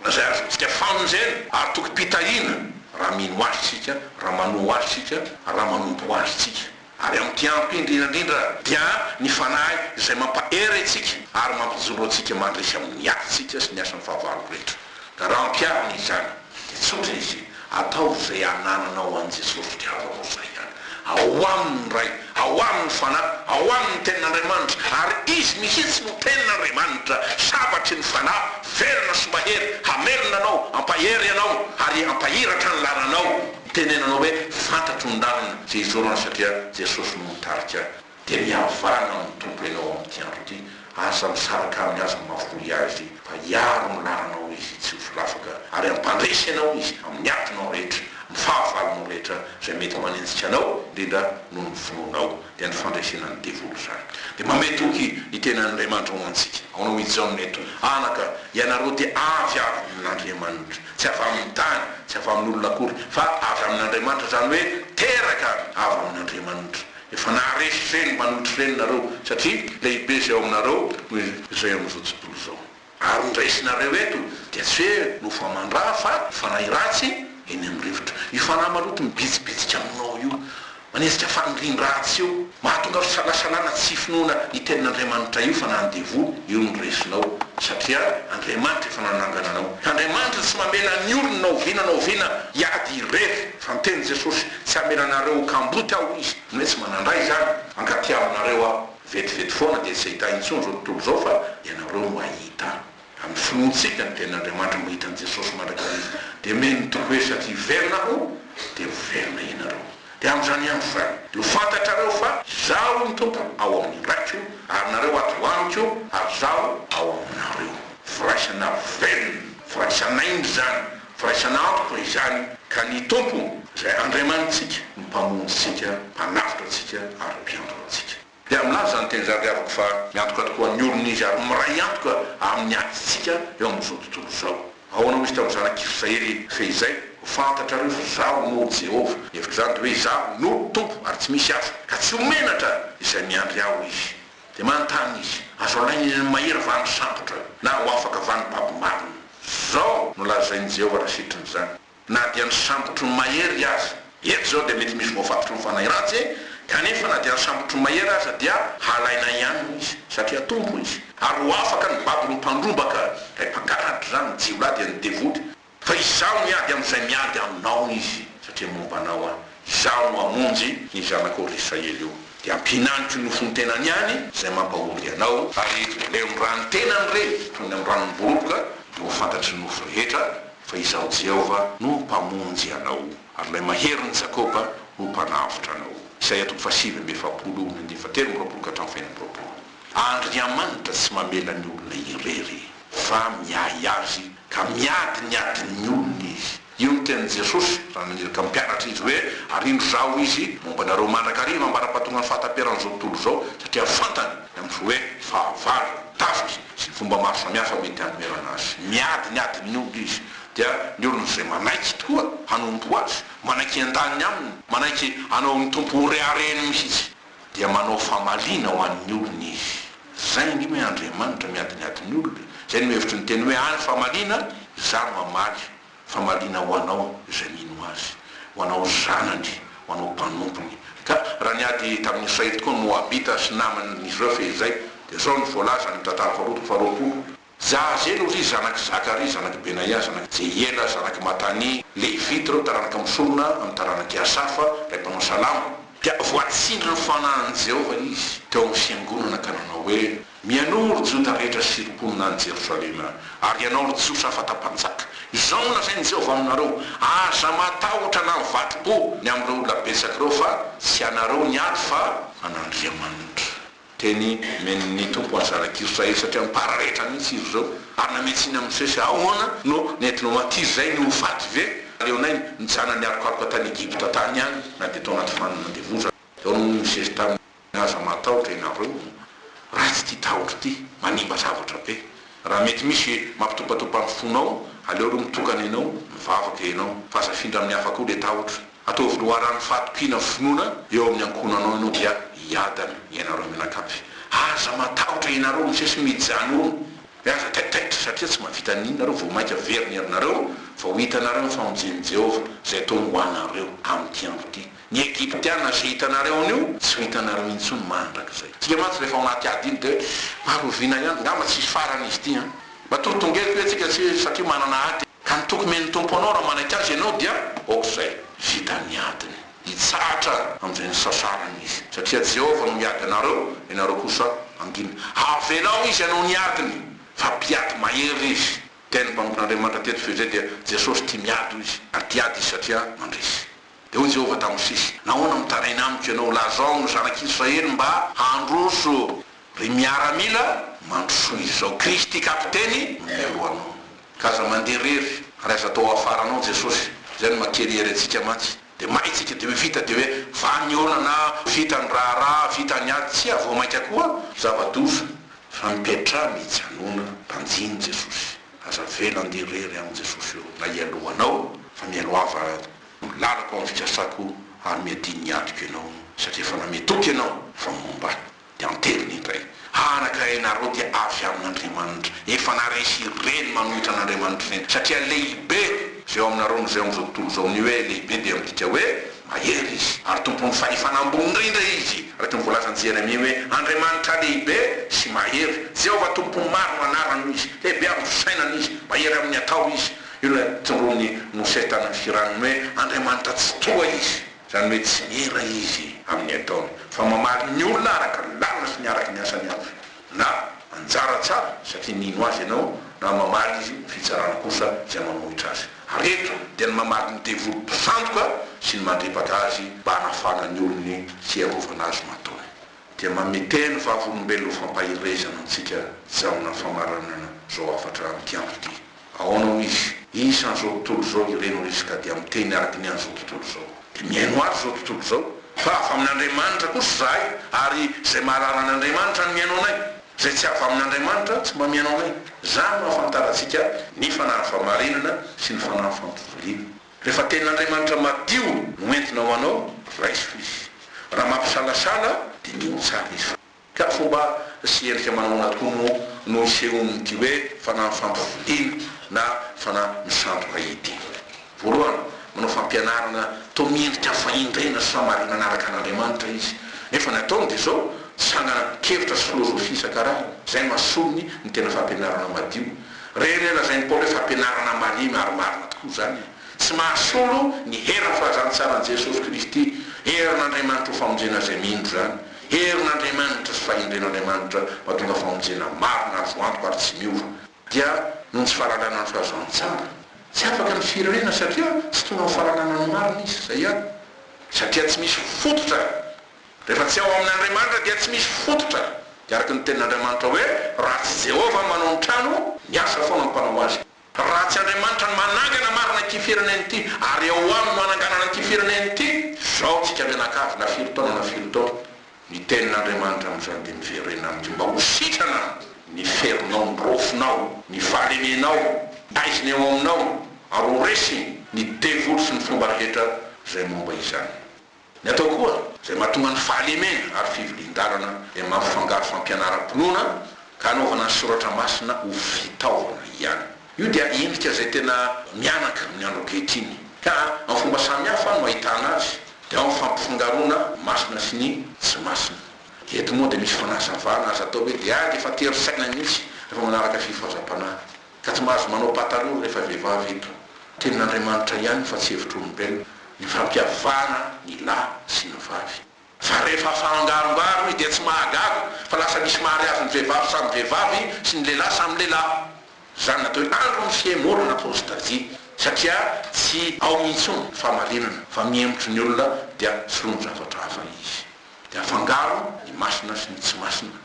izay azontsika famonjena ary tokim-pitahiana, raha mino Azy isika, raha manoa Azy isika, raha manompo Azy isika. Ary ampiampy indrindra indrindra dia ny Fanahy izay mampahery antsika ary mampijoro antsika mandresy amin'ny asantsika sy ny asan'ny fahavalo rehetra. Ka raha ampiharina izany dia tsotra izy, ataovy izay anananao an'i Jesosy satria azo atao izay ihany. Ao aminy ny Ray, ao aminy ny Fanahy, ao aminy ny Tenin'Andriamanitra ary Izy mihitsy no Tenin'Andriamanitra, sabatry ny Fanahy, velona sy mahery, hamelona anao, hampahery anao ary hampahiratra ny lalanao. Tenenina hoe fantatro ny lalana izay hizorana satria Jesosy no mitarika ahy. Dia mihavahana amin'ny Tompo ianao amin'ity andro ity, aza misaraka aminy, aza mahafoy Azy fa hiaro ny lalanao Izy tsy ho filafaka ary hampandresy ianao Izy amin'ny atinao rehetra, amin'ny fahavalonao rehetra izay mety manenjika anao indrindra noho ny finoanao dia ny fandresena ny devoly izany. Dia mamehy toky ny tenan'Andriamanitra ho antsika. Aonao i Jaona eto, Anaka, ianareo dia avy avy amin'Andriamanitra. Tsy avy amin'ny tany, tsy avy amin'olona akory, fa avy amin'Andriamanitra, izany hoe teraka avy amin'Andriamanitra. Efa naharesy ireny mpanonotry ireny nareo, satria lehibe izay ao aminareo noho izay ao amin'izao tontolo izao. Ary ny raisinareo eto dia tsy hoe noho faman-draha, fa noho fanahy ratsy eny amin'ny rivotra. Io fanahy maloto mibitsibitsika aminao io. Manetsika faniriam ratsy eo. Mahatonga fisalasalana tsy finoana io tenin'Andriamanitra io fa na ny devoly io no resinao satria Andriamanitra efa nanangana anao. Andriamanitra tsy mamela ny olony na oviana na oviana hiady irery fa ny tenin'i Jesosy tsy hamela anareo ho kamboty aho izy ny hoe tsy manandray izany. Mankatia aminareo aho. Vetivety foana dia tsy hahita intsony izao tontolo izao fa ianareo no hahita. Amin'ny finoantsika ny Tenin'Andriamanitra mba hitan'i Jesosy mandrakizay izy, dia omeny ny toky hoe, Satria hiverina Aho, dia hoverina ianareo. Dia amin'izany andro izany, dia ho fantatrareo fa Izaho ny Tompo ao amin'ny Raiko, ary nareo ato ho Amiko, ary Izaho ao aminareo. Firaisana velona, firaisan'aina izany, firaisana antoka izany, ka ny Tompo, izay Andriamanitsika, no Mpamonjintsika, Mpanavotra antsika, ary Mpiantona antsika. Dia milaza izany teny izany ry havako fa miantoka tokoa ny olony izy ary miray antoka amin'ny atintsika eo amin'izao tontolo izao. Ahoana hoy izy tamin'ny zanak'i Israely fehizay, Ho fantatrareo fa Izaho no Jehovah. Ny hevitr'izany dia hoe Izaho no Tompo ary tsy misy hafa, ka tsy ho menatra izay miandry Ahy. Izy dia manontany izy, Azo alain'ny ny mahery va ny sandotra, na ho afaka va ny baby marina? Izao no lazain'i Jehovah raha sitriny izany, Na dia ny sambotry ny mahery aza, eto izao dia mety misy voafatotry ny fanahy ratsy, kanefa na dia ny sambotry ny mahery aza dia halainay ihany hoy izy, satria Tompo hoy izy, ary ho afaka ny babon'ny mpandrombaka, ilay mpangalatra izany, ny jiolahy dia ny devoly, fa izaho miady amin'izay miady aminao hoy izy, satria momba anao aho, izaho no hamonjy ny zanakao ry Israely o, dia hampihinaniko ny ofon-tenany ihany izay mampahory anao, ary levon-drano ny tenany re, toy ny amin'ny ranon'ny boroboka, dia ho fantatry ny nofo rehetra, Fa Izaho Jehovah no Mpamonjy anao, ary Ilay Maherin'i Jakoba no Mpanavotra anao. Isaia toko fahasivy amby efapolo ony andiva telo amby roapolo ka hatramin'ny faheno amby roapolo. Andriamanitra tsy mamela ny olona irery, fa miahy azy, ka miady ny adin'ny olony Izy. Io no tenin'i Jesosy raha naniraka ny mpianatra Izy hoe, Arindro Izaho, Hoy Izy, momba anareo mandrakariva ambara-pahatongan'ny fahataperan'izao tontolo izao, satria fantany, na ny fo hoe, fahavalo. Tafika. sy ny fomba maro samihafa mety hanoherana azy. Miady ny adin'ny olona izy, dia ny olona izay manaiky tokoa hanompo azy, manaiky hiandaniny aminy, manaiky hanao ny Tompo ho reharehiny mihitsy, dia manao famaliana ho an'ny olony izy. Izay ny hoe Andriamanitra miady ny adin'ny olona, izay no hevitry ny teny hoe any famaliana, izaho mamaly, Famaliana ho anao izay mino Azy, ho anao zanany, ho anao mpanompony. Ka raha niady tamin'ny Israely tokoa ny Moabita sy naman'izy ireo fehizay, dia izao no voalaza any amin'ny Tantara Faharoa toko faharoapolo, Jaazelu, ry zanak'i Zakaria, zanak'i Benaia, zanak'i Jehiela, zanak'i Matania, Levita, ireo taranaka misorona amin'ny taranak'i Asafa, ilay mpanao salamo. Dia voatsindrin'ny fanahin'i Jehovah izy teo amin'ny fiangonana ka nanao hoe, Mialoha, ry Joda rehetra sy ry mponina any Jerosalema, ary ianao, ry Jiosy hafa atao mpanjaka, izao no lazain'i Jehovah aminareo, Aza matahotra na mivadi-po ny amin'ireo olona betsaka ireo, fa tsy ianareo ny ato fa an'Andriamanitra. Teny, Omeny ny Tompo an'i zanak'Israely satria mipara rehetra mihitsy izy ireo, ary namehy tsiny amin'i Mosesy, Ahoana no nentinao aty izay ny ho faty ve? Aleonay mijanona niarokaroka tany Egypta tany ihany, na dia tao anaty fanina mandevozana. Teo aloha i Mosesy tamin'ny. Aza matahotra ianareo o! Ratsy ity tahotra ity, manimba zavatra be. Raha mety misy mampitopatopa ny fonao, aleo aloha mitokana ianao, mivavaka ianao. Fa aza afindra amin'ny hafa koa ilay tahotra. Ataovy loharanon'ny fahatokiana ny finoana eo amin'ny ankohonanao ianao dia hiadana ianareo mianakavy. Aza matahotra ianareo misesy mijanona e! Aza taitaitra satria tsy mahavita an'iny nareo vao mainka very ny herinareo vao hitanareo ny famonjen'i Jehovah izay ataony ho anareo amin'ity andro ity. Ny Egyptiana izay hitanareo anio tsy ho hitanareo intsony mandrakizay. Isika mantsy rehefa ao anaty ady iny dia hoe maro oviana ihany, angamba tsy hisy farany izy ity an! Matoa tongelika hoe isika tsy satria manana ady. Ka ny toky men'ny Tompo anao raha manaiky Azy ianao dia aok'izay. Vita ny adiny. Hitsahatra amin'izay nisasarany Izy. Satria Jehovah no miady anareo, ianareo kosa mangina. Avelao Izy hanao ny adiny, fa mpiady mahery Izy. Ny tenin'ny mpanompon'Andriamanitra teto fehizay dia Jesosy tia miady hoy Izy, ary tia ady Izy satria mandresy. Dia hoy Jehovah tamin'i Mosesy, Nahoana mitaraina amiko ianao? Lazao ny zanak'Israely mba handroso ry miaramila, mandrosoa izao Kristy kapiteny mialoha anao. Ka aza mandeha irery, ary aza atao hafaranao Jesosy. Izay no maha-terrier antsika mantsy. Dia may isika, dia hoe vita, dia hoe vany ny olana, vita ny raharaha, vita ny ady. Tsia, vao mainka koa zava-doza, fa mipetraha mijanona, banjino Jesosy. Aza avela handeha irery aminy Jesosy eo, na hialoha anao, fa mialoha ava Lalako amin'ny fikasako ary miadiany ny antoko ianao satria efa nanome toky ianao fa momba ahy. Dia an-teriny indray, Anaka ianareo dia avy amin'Andriamanitra, efa naharesy ireny manohitra an'Andriamanitra ireny satria lehibe izay ao aminareo noho izay ao amin'izao tontolo izao. Ny hoe lehibe dia midika hoe mahery izy ary tompon'ny fahefana ambony indrindra izy, araka ny voalazan'i Jeremia hoe, Andriamanitra lehibe sy mahery, Jehovah Tompo maro anarany hoy izy, lehibe amin'ny fisainana izy, mahery amin'ny atao izy. Io ilay notondroin'i Mosesy tamin'ny firanony hoe Andriamanitra tsitoha izy, izany hoe tsy miera izy amin'ny ataony, fa mamaly ny olona araka ny lalana sy ny araka ny asany avy, na anjara tsara satria mino azy ianao, na mamaly izy ny fitsarana kosa izay manohitra azy. Ary eto dia ny mamaly ny devoly mpisandoka sy ny mandripaka azy mba hanafahana ny olony sy hiarovana azy matoa. dia mamete ny vavolombelona ho fampaherezana antsika hijanona famaranana izao hafatra amin'ity andro ity. Ahoana hoy izy? Isan'izao tontolo izao ireny hoy izy ka dia miteny araka ny an'izao tontolo izao. Dia mihaino azy izao tontolo izao. Fa avy amin'Andriamanitra kosa izahay ary izay mahalala an'Andriamanitra no mihaino anay. Izay tsy avy amin'Andriamanitra tsy mba mihaino anay. Izany no ahafantarantsika ny fanahiny fahamarinana sy ny fanahiny fampivoaliana. Rehefa tenin'Andriamanitra madio no entina ho anao, raiso Izy. Raha mampisalasala, diniho tsara Izy fa. Ka fomba sy endrika manahoana tokoa moa no isehoan'ity hoe fanahy fampivodiana na fanahy misandoka ity? Voalohany, manao fampianarana toa miendrika fahendrena sy famarinana araka an'Andriamanitra izy. Nefa ny ataony dia izao, tsangana kevitra sy filôzôfia isan-karazany, izay no ason'ny ny tena fampianarana madio. Re re lazain'i Paoly hoe fampianarana marina ary marina tokoa izany e! Tsy mahasolo ny herin'ny filazantsaran'i Jesosy Kristy, herin'Andriamanitra ho famonjena izay mino izany. Herin'Andriamanitra sy fahendren'Andriamanitra mahatonga famonjena marina azo antoka ary tsy miova. Dia noho ny tsy fahalalana ny filazantsara, tsy afaka ny firenena satria tsy tonga amin'ny fahalalana ny marina izy, izay ihany, satria tsy misy fototra. Rehefa tsy ao amin' Andriamanitra dia tsy misy fototra, dia araka ny tenin' Andriamanitra hoe, Raha tsy Jehovah no manao ny trano, ny asa foana no mpanao azy. Raha tsy Andriamanitra no manangana marina ity firenena ity, ary ao Aminy no hananganana ity firenena ity, zao tsika mianakavy na firy taona na firy taona, ny tenin' Andriamanitra amin' izany dia miverena aminy mba ho sitrana aminy, ny ferinao, ny rofinao, ny fahalemenao, taiziny ao aminao, ary ho resiny ny devoly sy ny fomba rehetra izay momba izany. Ny atao koa, izay mahatonga ny fahalemena ary fivilian-dalana, dia mampifangaro fampianaram-pinoana ka anaovana ny soratra masina ho fitaovana ihany. Io dia endrika izay tena mihanaka amin'ny andro ankehitriny, ka amin'ny fomba samihafa no ahitana azy, dia ao amin'ny fampifangaroana masina sy ny tsy masina. Eto moa dia misy fanazavana azo atao hoe dia ady efa tery saina mihitsy rehefa manaraka fifazam-panahy. Ka tsy mahazo manao pataloha rehefa vehivavy eto. Tenin'Andriamanitra ihany fa tsy hevitr'olombelona ny fampiavana ny lahy sy ny vavy. Fa rehefa afahangarongaro izy dia tsy mahagaga fa lasa misy mariazin'ny vehivavy samy vehivavy sy ny lehilahy samy lehilahy. Izany natao hoe andro ny fihemorana apostasia satria tsy ao intsony ny fahamarinana fa mihemotry ny olona dia soloiny zavatra hafa izy. Dia afangaro ny masina sy ny tsy masina.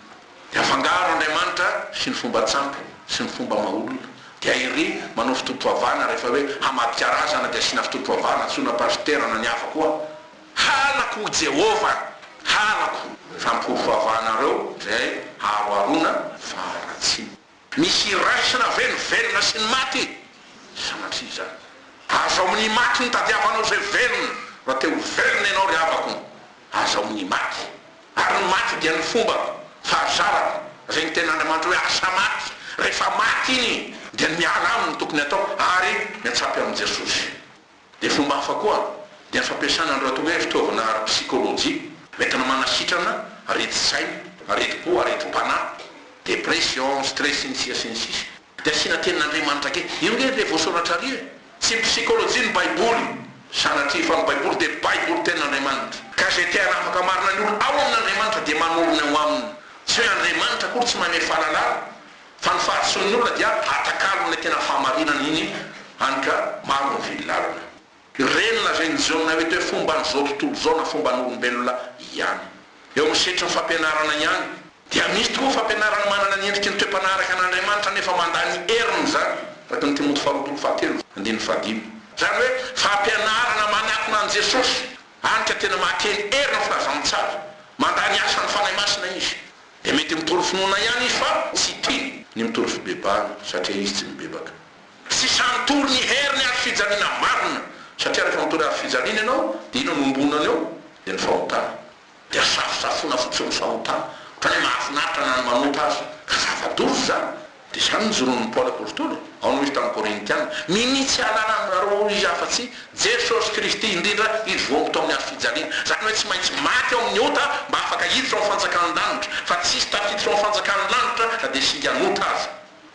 Dia afangaro Andriamanitra sy ny fomba tsampy sy ny fomba maha olona. Dia ery manao fitotom-pivavahana rehefa hoe hamadika razana dia asiana fitotom-pivavahana antsoina pasitera na ny hafa koa. Halako hoy Jehovah! Halako! Fa ny fomba fivavahanareo izay aharoharoana faharatsiana. Misy iraisana ve ny velona sy ny maty? Sanatria izany. Aza ao amin'ny maty no tadiavanao izay velona, raha te ho velona ianao ry havako, aza ao amin'ny maty. Ary ny maty dia ny fomba fahazarako, izay ny Tenin'Andriamanitra hoe asa maty, rehefa maty iny dia ny miala aminy no tokony atao ary miatsapy amin'i Jesosy. Ny fomba hafa koa dia ny fampiasana ny ratoria fitaovana ara-psikolojia entina manasitrana aretin-tsaina, aretim-po, aretim-panahy, depression, stress, sy ny sisa sy ny sisa. Dia asiana tenin'Andriamanitra kely. Io nge ilay voasoratra ary e! Tsy psykolojian'ny baiboly, sanatria, fa ny baiboly dia baiboly tenin'Andriamanitra. Ka izay te hanafaka marina ny olona ao amin'Andriamanitra dia manorina ao aminy. Tsy hoe Andriamanitra akory tsy manome fahalalana, Fa ny fahadisoan'ny olona dia atakalon'ilay tena fahamarinana iny any ka maro ny vily lalina. Ireny lazain'i Jaona ireto hoe fomban'izao tontolo izao na fomban'olombelona ihany. Eo amin'ny setry ny fampianarana ihany. Dia misy tokoa ny fampianarana manana ny endriky ny toe-panahy araka an'Andriamanitra nefa mandany heriny izany, araka ny Timoty faharoa toko fahatelo, andininy fahadimy. Izany hoe fampianarana manakona an'i Jesosy, any ka tena mahakely hery ny filazantsara. Mandany asan'ny Fanahy Masina izy. Dia mety mitory finoana ihany izy fa tsy tia ny mitory fibebahana satria izy tsy mibebaka. Tsy sahy mitory ny herin'ny hazo fijaliana marina satria rehefa mitory hazo fijaliana ianao dia inona no ombonany eo? Dia ny fahotana. Dia safosafoina fotsiny ny fahotana, ohatran'ny hoe mahafinaritra na ny manota aza. Ka zava-doza izany. Dia izany no joron'i Paoly Apôstôly e! Ao no izy tamin'ny Kôrintiana, Minia tsy hahalala anareo ao izy afa-tsy Jesosy Kristy, indrindra izy voaomby tao amin'ny hazo fijaliana, izany hoe tsy maintsy maty ao amin'ny ota mba afaka hiditra ao amin'ny fanjakan'ny lanitra, fa tsy hisy tafiditra ao amin'ny fanjakan'ny lanitra na dia singa an'ota aza.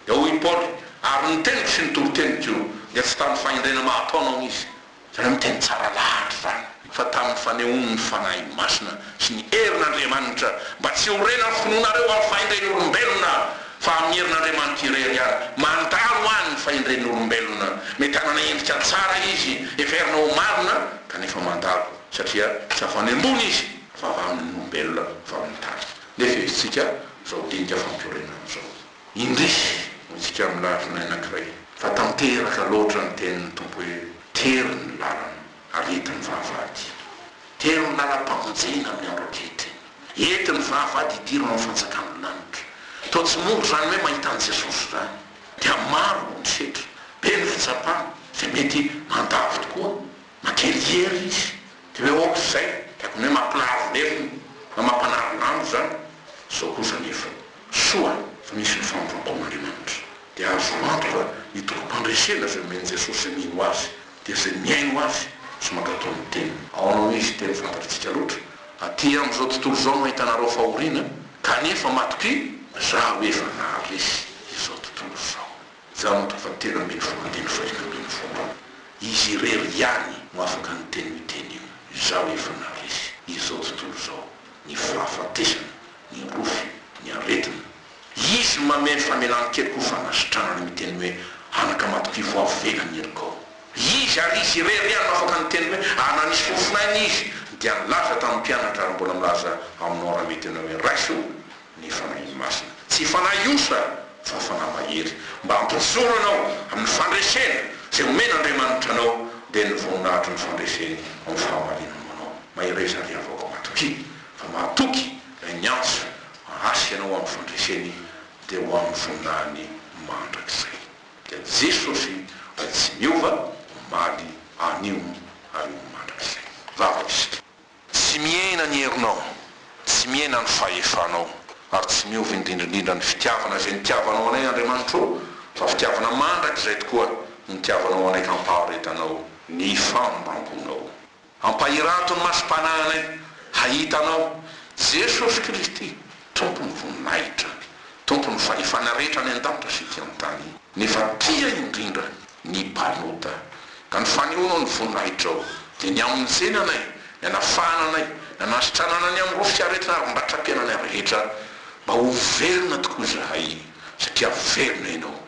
Dia hoy Paoly, Ary ny teniko sy ny toriteniko dia tsy tamin'ny fahendrena maha-taona ao izy, Tena miteny tsara lahatra izany fa tamin'ny fanehoan'ny Fanahy Masina sy ny herin'Andriamanitra mba tsy ho rena ny finoanareo amin'ny fahendren'olombelona fa amin'ny herin'Andriamanitra irery ihany. Mandalo any ny fahendren'olombelona. Mety hanana endrika tsara izy, heverina ho marina, kanefa mandalo satria tsy avy any ambony izy fa avy amin'ny olombelona, avy amin'ny tany. Nefa hevitrika izao dinika fampiorenana izao. Indrisy, hotsika amin'ny lafiny anankiray, fa tanteraka loatra ny tenin'ny Tompo hoe, Tery ny lalana, ary ety ny vavahady. Tery ny lalam-pamonjena amin'ny andro ankehitriny. Ety ny vavahady hidiro amin'ny fanjakan'ny lanitra. Toa tsy mora izany hoe mahita an'i Jesosy izany. Dia maro ny setra, be ny fitsapana, izay mety mandavo tokoa. Mankeny hery izy, dia hoe, Ôh, izay, dia akon'ny hoe mampilahavolelona, na mampanary lanitra izany. Izao kosa anefa. Soa fa nisy ny fanompoam-pon'Andriamanitra. Dia azo antoka ny tompom-pandresena izay omen'i Jesosy izay mino Azy, dia izay mihaino Azy sy mankatò ny Teniny. Ao aminao Izy dia mifantatsika loatra. Aty amin'izao tontolo izao no ahitanareo fahoriana, kanefa matokia! Zah hoe efa naharesy izao tontolo izao. Janto fa telo ambin'ny folo andininy fahefatra ambin'ny folo. Izy irery ihany no afaka niteny io teny io. Izaho efa naharesy izao tontolo izao, ny fahafatesana. Indroa ny aretina. Izy manome ny famelan-keloka ho fanasitranana ny teny hoe anaka matokivo avo vela ny helokao. Izy, ary Izy irery ihany no afaka niteny hoe ana nisy fofon'aina Izy dia nilaza tamin'ny mpianatra ary mbola milaza aminao raha mety ianao hoe raiso ny Fanahiny Masina. Tsy fanahy osa fa fanahy mahery mba hampijoro anao amin'ny fandresena izay omen'Andriamanitra anao dia ny voninahitry ny fandreseny amin'ny fahamarinany ho anao. Mahereza ry havako matokia. Fa mahatoky lay niantso hasika anao amin'ny fandreseny dia ho amin'ny voninahiny mandrakizay. Dia Jesosy lay tsy miova omaly anio ary ho mandrakizay. Vavaka isika. Tsy mihena ny herinao, tsy mihena ny fahefanao, ary tsy miova indrindra indrindra ny fitiavana izay nitiavanao anay Andriamanitro ô, fa fitiavana mandrakizay tokoa no nitiavanao anay ka ampaharetanao ny fanompoanao. Ampahirato ny masom-panahinay hahita Anao, Jesosy Kristy, Tompon'ny voninahitra, Tompon'ny fahefana rehetra any an-danitra sy ety an-tany. Nefa tia indrindra ny mpanota, ka ny fanehoanao ny voninahitrao dia ny amin'ny nitseny anay, ny hanafahana anay, ny hanasitranana ny amin'ireo fiaretana ary mbatram-piainanay rehetra, mba ho velona tokoa izahay, satria velona Ianao.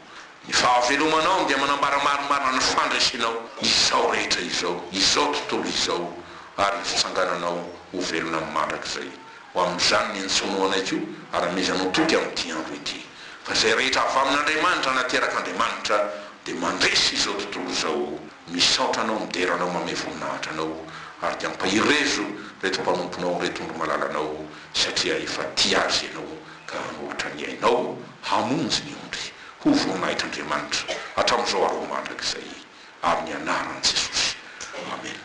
Ny fahavelomanao dia manambara marimarina ny fandresenao izao rehetra izao, izao tontolo izao, ary ny fitsangananao ho velona mandrakizay. Ho amin'izany ny antsoinao anay koa, ary amezanao toky amin'ity andro ity. Fa izay rehetra avy amin'Andriamanitra na teraka Andriamanitra dia mandresy izao tontolo izao. Misaotra Anao midera Anao mamehy voninahitra Anao, ary dia ampahirezo ireto mpanomponao ireto ondry malala Anao, satria efa tia azy Ianao ka hanoritra ny ainao hamonjy ny ondry. Ho voninahitr'Andriamanitra hatramin'izao ary ho mandrakizay, amin'ny anaran'i Jesosy, amena.